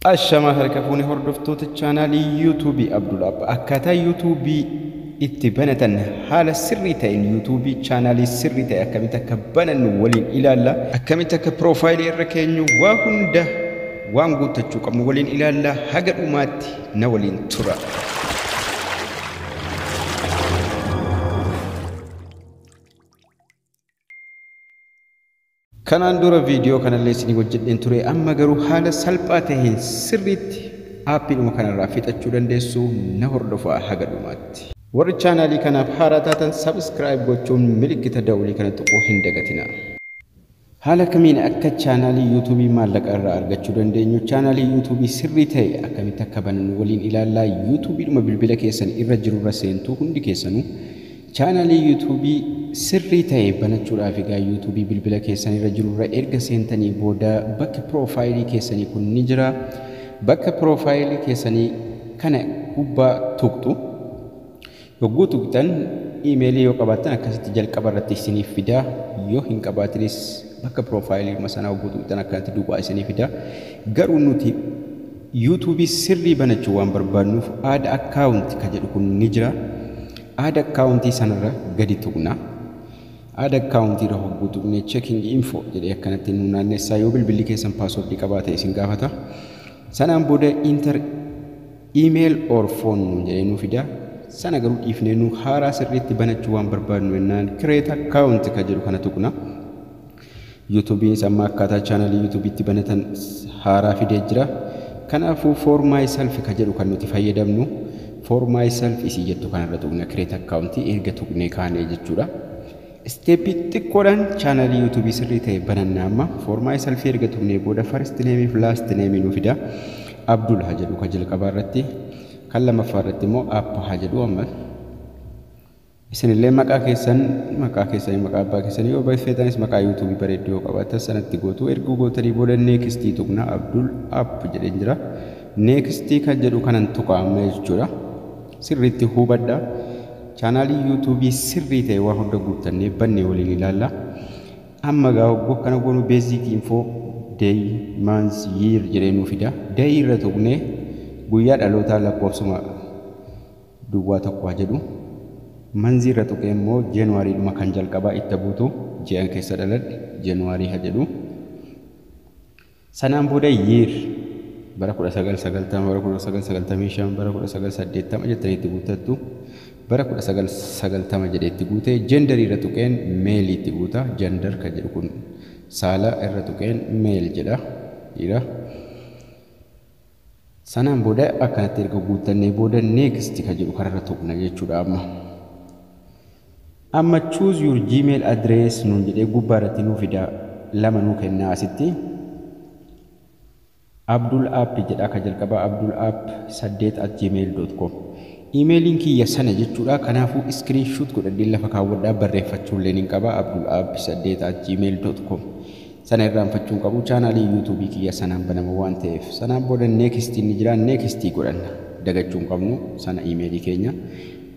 Ashamaa harka fuune hordoftoota chaanaalii yuutuubii Abdulaab akkaataa yuutuubii itti banatan haala sirrii ta'een yuutuubii chaanaalii sirrii ta'e akkamitti akka banannu waliin ilaalla. Akkamitti akka piroofaayilii irra keenyu waa hunda waan guuttachuu qabnu waliin ilaalla haga dhumaatti na waliin tura. Kanaan dura viidiyoo kanallee isinii hojjedheen ture amma garuu haala salphaa taheen sirriitti aappiidhuma kanarraa fixachuu dandeessu na hordofaa haga dhumaatti. Warri chaanaalii kanaaf haaraa taatan subscribe gochuun milikkita dawulii kana tuquu hin dagatinaa. Haala kamiin akka chaanaalii Yuutuubii maallaqa irraa argachuu dandeenyu, chaanaalii Yuutuubii sirrii ta'e akkamitti akka banannu waliin ilaalla. Yuutuubiidhuma bilbila keessan irra jirurra seentu hundi keessanuu. Chaanaalii Yuutuubii sirrii ta'e banachuudhaaf egaa Yuutuubii bilbila keessan irra jirurra erga seentanii booda bakki piroofaayilii keessanii kun ni jira. Bakka piroofaayilii keessanii kana gubbaa tuqxu. Yogguu tuqxan iimeelii yoo qabaattan akkasitti jalqaba irratti isiniif fida. Yoo hin qabaatinis bakka piroofaayiliima sanaa yogguu tuqxan akkanatti duwwaa isinii fida. Garuu nuti yuutuubii sirrii banachuu waan barbaadnuuf aada akkaawunti ka jedhu kun ni jira. Aada akkaawuntii sanarra gadi tuqna. Aada akkaawuntii irra hogguu tuqne checking info jedhee akkanatti nu naannessaa yoo bilbilli keessan paaswordii qabaate isin gaafata. Sanaan booda inter email or phone nuun jedhee nuu fida sana garuu dhiifnee nu haaraa sirriitti banachuu waan barbaadnu jennaan create account kan jedhu kana tuqna yuutuubiinis amma akkaataa chaanalii yuutuubiitti banatan haaraa fidee jira kanaafuu for myself kan jedhu kan nuti fayyadamnu for myself isii jettu kanarra tuqna create account erga tuqnee kaanee jechuudha Isteeppii xiqqoodhaan chaanalii yuutuubii sirrii ta'e bananna amma. Foormaa'ee salfii erga tuqnee booda first name fi last name nu fida. Abdul haa jedhu kan jalqabaa irratti. Kan lammaffaa irratti immoo app haa jedhu amma. Isinillee maqaa keessan maqaa keessanii maqaa abbaa keessanii yoo barreessitanis maqaa yuutuubii bareedduu yoo qabaatan sanatti gootu. Erga gootanii booda neekistii tuqna Abdul app jedheen jira. Neekistii kan jedhu kanan tuqa amma jechuudha. Sirriitti hubadhaa. Chaanaalii yuutuubii sirrii ta'e waa hunda guuttannee bannee waliin ilaalla. Amma egaa hogguu akkana goonu beeziikii infoo day, month, year jedhee nuu fida. Day irra tuqnee guyyaa dhalootaa lakkoofsuma duwwaa tokko haa jedhu. Manzii irra tuqee immoo January dhuma kan jalqabaa itta buutu ji'an keessa dhaladhe January haa jedhu. Sanaan booda year, bara 1990, bara 1995, bara 1980 jettanii itti guuttattu. Bara 1990 jedhee itti guute. Gender irra tuqeen male itti guuta. Gender kan jedhu kun saala irra tuqeen male jedha. Dhiira. Sanaan booda akkanatti erga guuttannee booda next ka jedhu kanarra tuqna jechuudha amma. Amma choose your gmail address nuun jedhee gubbaa irratti nuu fida lama nuu kennaa asitti. Abdul app jedhaa ka jalqabaa abdul app 8 at gmail.com. Imeeliin kiyya sana jechuudha kanaafuu screen shoot godhadhee lafa kaawwadhaa barreeffachuulleen hin qaba abdul app 8 at gmail.com. Sana irraanfachuu hin qabu. Chaanaalii YouTube kiyya sanaan banama waan ta'eef. Sanaan booda next inni jira next godhanna. Dagachuu hin qabnu sana email keenya.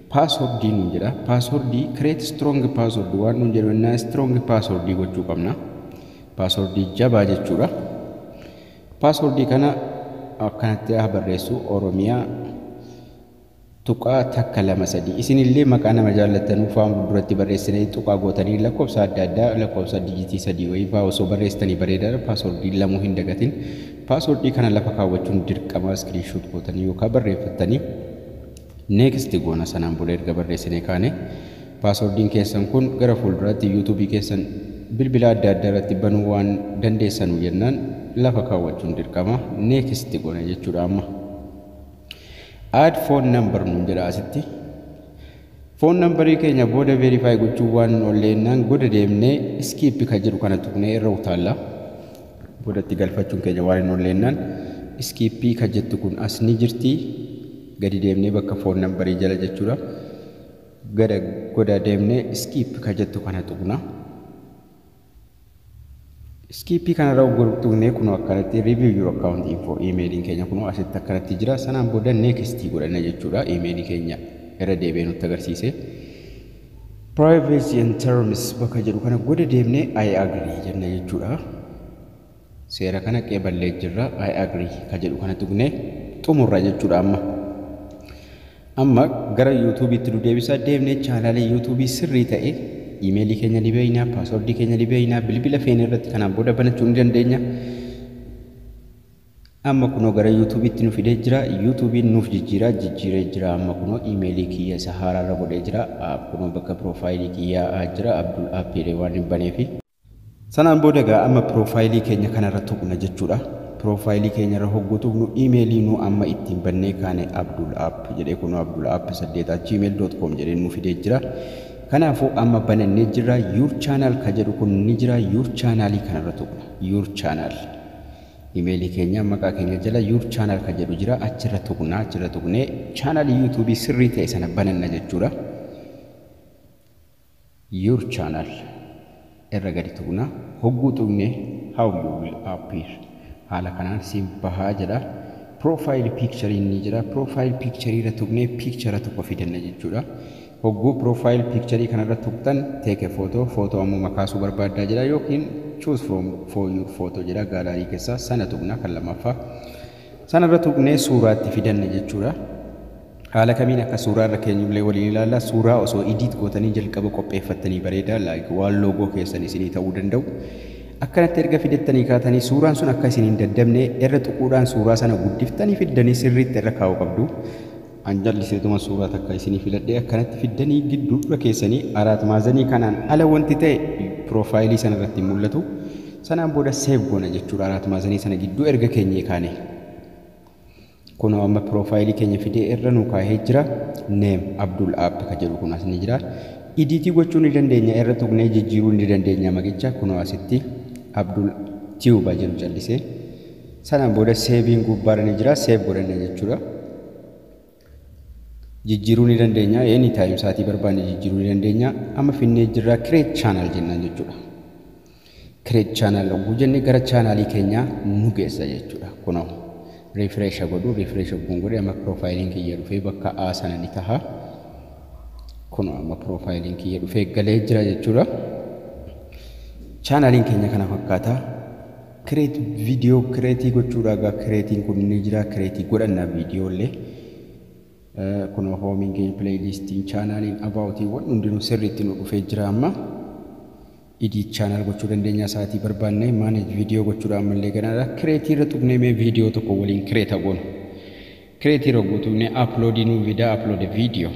Password nuun jedha. Password create strong password waan nuun jedhu innaa strong password gochuu qabna. Password jabaa jechuudha. Password kana akkanatti haa barreessu Oromiyaa tuqaa takka lama sadii isin illee maqaa nama jaallattanuu faan fulduratti barreessitanii tuqaa gootanii lakkoofsa adda addaa lakkoofsa dijitii sadii wayii faa osoo barreessitanii bareedaadha paaswordii lamuu hin dagatin paaswordii kana lafa kaawwachuun dirqamaa iskiriinshoot gootanii yookaan barreeffattanii neeksti goona sanaan booda erga barreessinee kaane paaswordiin keessan kun gara fuulduraatti yuutuubii keessan bilbila adda addaa irratti banuu waan dandeessanu jennaan lafa kaawwachuun dirqama neeksti goona jechuudha amma. add phone number nuun jedha asitti foon nambarii keenya booda veerifaayi gochuu waan hin oolleenyaan booda deemnee iskiippi kan jedhu kana tuqnee irra utaalla. Boodatti galfachuun keenya waan hin oolleenyaan iskiippii kan jettu kun as ni jirti. Gadi deemnee bakka foon nambarii jala jechuudha. Gada goda deemnee iskiippi kan jettu kana tuqna. Iskiippii kanarra ugguruu tuqnee kunoo akkanatti review your account info iimeeliin keenya kunoo asitti akkanatti jira sanaan booda next godhanna jechuudha iimeelii keenya irra deebi'ee nutti agarsiise privacy and terms bakka jedhu kana goda deemnee I agree jenna jechuudha Seera kana qeeballee jirra, I agree, ka jedhu kana tuqnee xumurra jechuudha amma. Amma gara YouTube tti nu deebisa. Deemnee chaanaalii YouTube sirrii ta'e iimeelii keenya ni beekna, paaswordii keenya ni beekna, bilbila feene irratti kanaan booda banachuu ni dandeenya. Amma kunoo gara YouTube tti nu fidee jira. YouTube nuuf jijjiiraa jijjiiree jira. Amma kunoo iimeelii kiyya isa haaraa irra godhee jira. Kunoo bakka piroofaayilii kiyyaa jira. Abdul App jedhee waan hin baneefi. Sanaan booda egaa amma piroofaayilii keenya kanarra tuqna jechuudha. Piroofaayilii keenyarra hogguu tuqnu iimeelii nu amma ittiin bannee kaane Abdul App jedhee kunoo Abdul App 8 at gmail dot com jedhee nuu fidee jira. Kanaafuu amma banannee jirra. Yuur chaanaal ka jedhu kun ni jira. Yuur chaanaalii kanarra tuqna. Yuur chaanaal. Imeelii keenya maqaa keenya jala yuur chaanaal ka jedhu jira. Achirra tuqna. Achirra tuqnee chaanaalii yuutuubii sirrii ta'e sana bananna jechuudha. your channel irra gadi tuqna hogguu tuqne how you will appear haala kanaan siif bahaa jedha profile picture inni jira profile picture irra tuqne picture tokko fidanna jechuudha hogguu profile picture kanarra tuqtan take a photo photo ammuma kaasuu barbaaddaa jedha yookiin choose from for your photo jedha gaalaarii keessaa sana tuqna kan lammaffaa Sana irra tuqnee suuraa itti fidanna jechuudha. Haala kamiin akka suuraa irra keenyu illee waliin ilaalla. Suuraa osoo edit gootanii jalqaba qopheeffattanii bareeda. Like waan loogoo keessan isinii ta'uu danda'u. Akkanatti erga fidattanii kaatanii suuraan sun akka isin hin daddabne irra tuquudhaan suuraa sana guddiftanii fiddanii sirriitti irra kaa'uu qabdu. An jalliseetuma suuraa takka isinii filadhee akkanatti fiddanii gidduurra keessanii araat maazanii kanaan ala wanti ta'e piroofaayilii sana irratti hin mul'atu. Sanaan booda seev goona jechuudha araat maazanii sana gidduu erga keenyee kaanee. Kunoo amma piroofaayilii keenya fidee irra nuu kaahee jira. Neem Abdul App ka jedhu kun as ni jira. Idiitii gochuu ni dandeenya irra tuqnee jijjiiruu ni dandeenya maqicha kunoo asitti Abdul Tiyuba jedhu callisee. Sana booda seeviin gubbaarra ni jira. Seev godhanne jechuudha. Jijjiiruu ni dandeenya. Any time sa'aatii barbaanne jijjiiruu ni dandeenya. Amma finnee jirra create channel jennaan jechuudha. Create channel yogguu jenne gara chaanaalii keenyaa nu geessa jechuudha. Kunoo refresh godhu refresh yogguun godhe amma piroofaayiliin kiyya dhufee bakka A sana ni taha. Kunoo amma piroofaayiliin kiyya dhufee galee jira jechuudha. Chaanaaliin keenya kana fakkaata. Create video create gochuudha egaa creatiin kun ni jira create godhanna video illee kunoo hoomiin keenya playlistiin chaanaaliin abaawotiin wanni hundinuu sirriitti nu dhufee jira amma edit channel gochuu dandeenya sa'aatii barbaannee manage video gochuudha ammallee ganaadha create irra tuqnee mee video tokko waliin create goonu create irra guutuunee upload nu vidaa upload video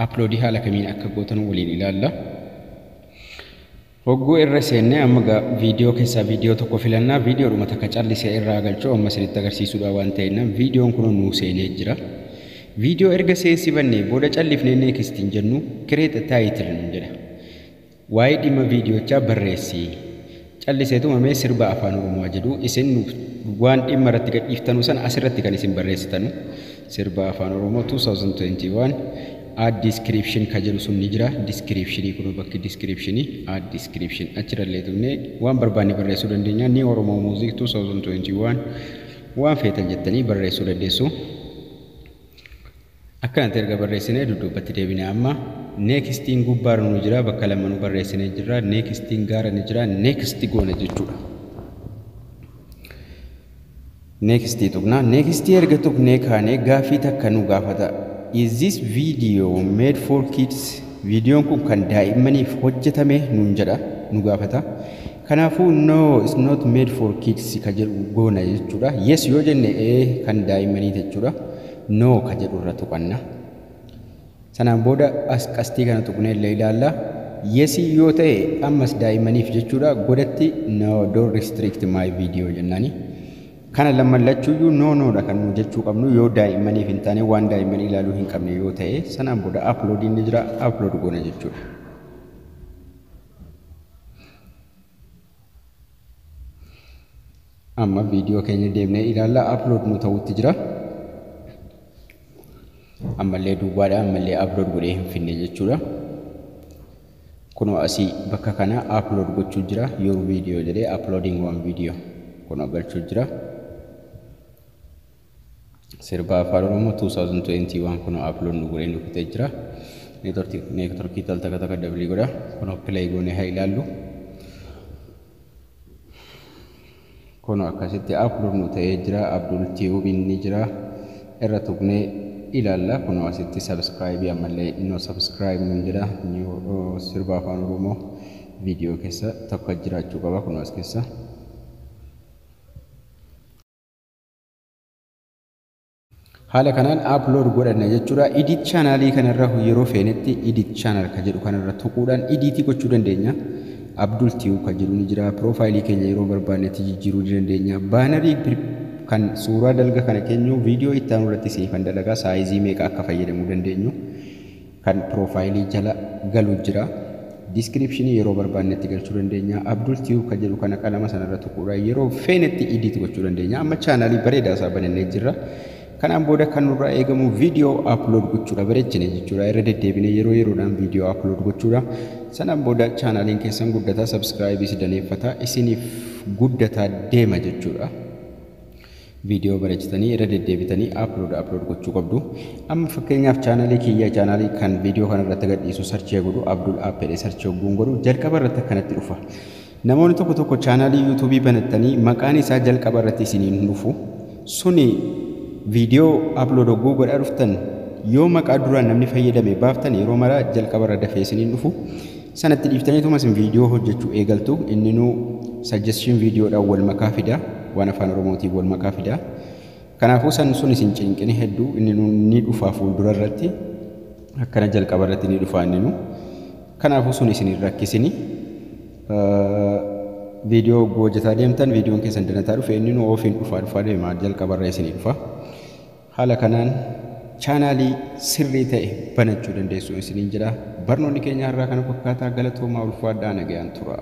upload haala kamiin akka gootan waliin ilaalla Hogguu irra seenne amma gaa video keessaa video tokko filannaa videodhuma takka calli se'e irraa galchuu amma isinitti agarsiisuudhaa waan ta'ennaan videon kunoo nuu seenee jira video erga seensifannee booda callifnee next hin jennu create a title nun jedha waa'ee dhimma videochaa barreessi calliseetuma mee sirba afaan oromoo jedhu isin waan dhimma irratti gadhiiftanu san asirratti kan isin barreessitanu Sirba Afaan Oromoo 2021 Add description ka jedhu sun ni jira. Description kunoo bakki description add description achirrallee tuqnee waan barbaanne barreessuu dandeenya. Ni Oromoo Music 2021 waan feetan jettanii barreessuu dandeessu. Akkanatti erga barreessinee dudduubbatti deebinee amma neekstiin gubbaarra nu jira bakka lama nu barreessinee jirra neekstiin gaara ni jira neeksti goona jechuudha. Next tuqna. Next erga tuqnee kaanee gaaffii takka nu gaafata. Is this video made for kids? Viidiyoon kun kan daa'immaniif hojjetame nuun jedha, nu gaafata. Kanaafuu no it's not made for kids ka jedhu goona jechuudha. Yes yoo jenne ee kan daa'immanii jechuudha. No ka jedhu irra tuqanna. Sanaan booda as qastii kana tuqnee illee ilaalla. Yes yoo ta'e ammas daa'immaniif jechuudha godatti no don't restrict my video jennaani. Kana lamman lachuuyyuu no no dha kan nu jechuu qabnu yoo daa'immaniif hin taane waan daa'imman ilaaluu hin qabne yoo ta'e sanaan booda upload inni jira upload goona jechuudha. Amma viidiyoo keenya deemnee ilaalla. Upload nu ta'utti jira. Ammallee duwwaadha. Ammallee upload godhee hin finne jechuudha. Kunoo asii bakka kana upload gochuu jira. Your video jedhee uploading one video. Kunoo galchuu jira. Sirba Afaan Oromoo 2021 kunoo upload nu godhee nu fixee jira. Network- Networkii tal takka takka dablii godha. Kunoo play goonee haa ilaallu. Kunoo akkasitti upload nu ta'ee jira. Abdul Tube inni jira. Irra tuqnee ilaalla. Kunoo asitti subscribe ammallee no subscribe nuun jedha. New uh, sirba afaan Oromoo viidiyoo keessa tokko jiraachuu qaba kunoo as keessa. Haala kanaan upload godhanna jechuudha. Edit channel kanarra yeroo feenetti edit channel kan jedhu kanarra tuquudhaan edit gochuu dandeenya. Abdul Tube kan jedhu ni jira. Profile keenya yeroo barbaannetti jijjiiruu ni dandeenya. Baanarii kan suuraa dalga kana keenyu viidiyoo itti aanu irratti siifan dalagaa saayizii meeqa akka fayyadamuu dandeenyu. kan profile jala galu jira. Description yeroo barbaannetti galchuu dandeenya. Abdul Tube kan jedhu kana qalama sanarra tuquudhaan yeroo feenetti edit gochuu dandeenya. Amma chaanaalii bareedaa isaa banannee jirra. Kanaan booda kan nurraa eegamu viidiyoo upload gochuudha bareechine jechuudha. Irra deddeebinee yeroo yeroodhaan viidiyoo upload gochuudha. Sanaan booda chaanaaliin keessan guddataa subscribe si daneeffataa isiniif guddataa deema jechuudha. Video barechitanii irra deddeebitanii upload upload gochuu qabdu. Amma fakkeenyaaf chaanalii kiyya chaanalii kan video kana irratti gadhiisu search godhu Abdul App jedhee search hogguun godhu jalqaba irratti akkanatti dhufa. Namoonni tokko tokko chaanalii YouTube banattanii maqaan isaa jalqaba irratti isiniin dhufu. Suni video upload hogguu godhaa dhuftan yoo maqaa duraan namni fayyadame baaftan yeroo maraa jalqaba irra dafee isiniin dhufu. Sana itti dhiiftaniituma isin viidiyoo hojjechuu eegaltu. Inninuu suggestion viidiyoodhaan wal makaa fida. Waan afaan Oromootiin wal makaa fida. Kanaafuu san sun isin cinqini hedduu inninuu ni dhufaa fuuldura irratti. Akkana jalqaba irratti ni dhufaa inninuu. Kanaafuu sun isin hin rakkisini. Viidiyoo hogguu hojjetaa deemtan viidiyoon keessan danataa dhufe inninuu ofiin dhufaa dhufaa deema jalqaba irra isinii dhufa. Haala kanaan chaanaalii sirrii ta'e banachuu dandeessu isiniin jedha. Barnoonni keenya har'aa kana fakkaataa galatoomaa ulfaadhaa nagayaan turaa.